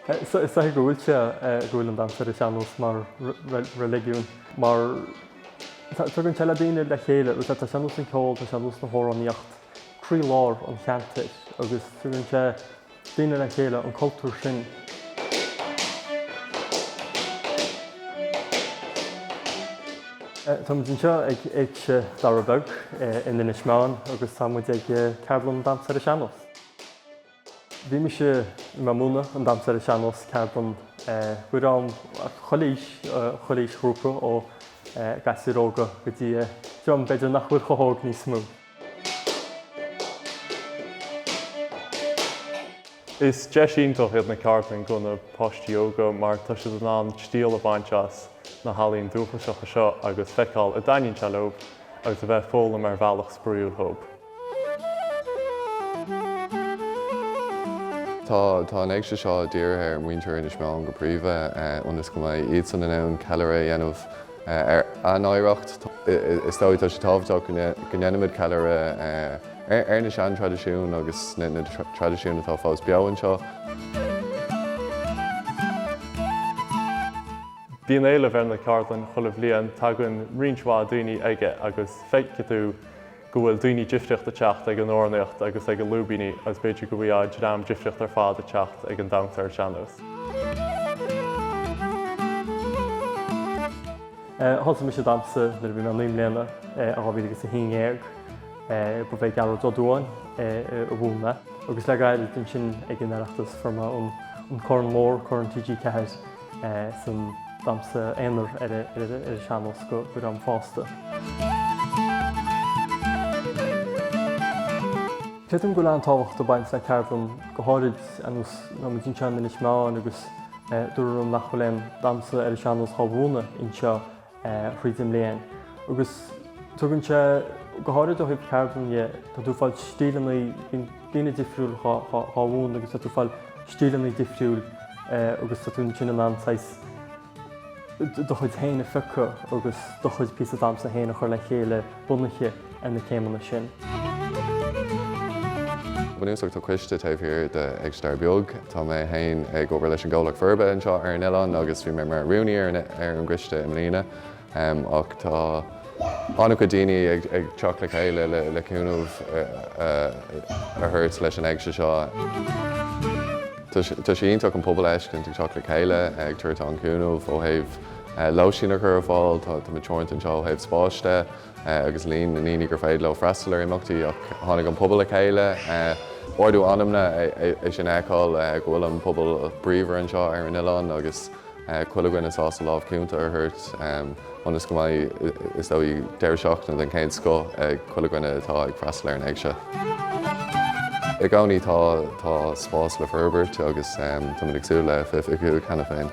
Is dóiche go bhfuil sé, go bhfuil an damhsa ar an sean-nós mar reiligiún, mar tugann sé le daoine le chéile agus tá sean-nós an ceol, tá sean-nós na hamhránaíocht, croí lár an cheantair agus tugann sé daoine le chéile, an cultúr sin. Táimid anseo ag Éigse Dara Beag in Inis Meáin agus tá muid ag ceardlann damhsa ar an sean-nós. Bhí mise i mbun múineadh an damhsa ar an sean-nós, ceardlann i gcomhair chuile aois, chuile aois ghrúpa ó ghasúir óga go dtí dream b'fhéidir nach bhfuil chomh hóg níos mó. Is deis iontach iad na ceardlainn do na páistí óga mar tá siad in ann triail a bhaint as na healaíona dúchasacha seo agus feiceáil a dtaitníonn sé leo agus a bheith ag foghlaim ar bhealach spraoiúil dhób. Tá an Éigse seo dírithe ar mhuintir Inis Meáin go príomha ionas go mbeidh iadsan in ann ceiliúradh a dhéanamh ar a n-oidhreacht. Is dóigh, tá sé tábhachtach go ndéanaimid ceiliúradh ar na seantraidisiúin agus na traidisiúin atá fós beo anseo. Bíonn éileamh ar na ceardlainn chuile bhliain, tagann roinnt mhaith daoine aige agus feicfidh tú go bhfuil daoine difríochta ag teacht ag an amhránaíocht agus ag an lúibíní agus b'fhéidir go bhfaighfeá dream difríochta ar fad ag teacht ag an Damhsa ar an sean-nós. Thosaigh mise damhsa nuair a bhí mé naoi mbliana i 2011. Ba í Becky Ní Éallaithe a mhúin mé agus le gairid ansin ag an Oireachtas fuair mé an corn mór, corn TG4. san damhsa aonair ar a sean-nós don dream fásta. Creidim go bhfuil an-tábhacht ag baint le ceardlann go háirid ar nós tá muid anseo in Inis Meáin agus dúradh liom nach bhfuil aon damhsa ar a sean-nós dhá mhúineadh anseo thríd an mbliain agus tugann sé go háirid ó thaobh cheardlann dhe, tá tú ag fáil stíleanna, bíonn daoine difriúil dhá mhúineadh agus tá tú ag fáil stíleanna difriúil agus tá tú ansin in ann saghas do chuid féin a phiocadh agus do chuid píosa damhsa féin a chur le chéile. bunaithe ar na céimeanna sin. Bunúsach tá coiste taobh thiar d'Éigse Dara Beag. Tá mé féin ag obair leis an gcomhlacht forbartha anseo ar an oileán agus bhí mé mar rúnaí ar an gcoiste i mbliana ach tá an-chuid daoine ag teacht le chéile le cúnamh a thabhairt leis an éigse seo. Tá sé iontach an pobal a fheiscint ag teacht le chéile, ag tabhairt an-chúnamh ó thaobh lóistín a chur ar fáil. Tá muid teoranta anseo ó thaobh spáis de agus líon na ndaoine gur féidir leo freastal ar imeachtaí ach tháinig an pobal le chéile, ardú anamna é sin a fheiceáil go bhfuil an pobal bríomhar anseo ar an oileán agus chuile dhuine sásta lámh chúnta a thabhairt ionas go mbeidh, is dóigh, deireadh seachtaine den chéad scoth ag chuile dhuine atá ag freastal ar an Éigse. I gcónaí tá spás le forbairt agus tá muid ag súil le bheith, fiú cheana féin.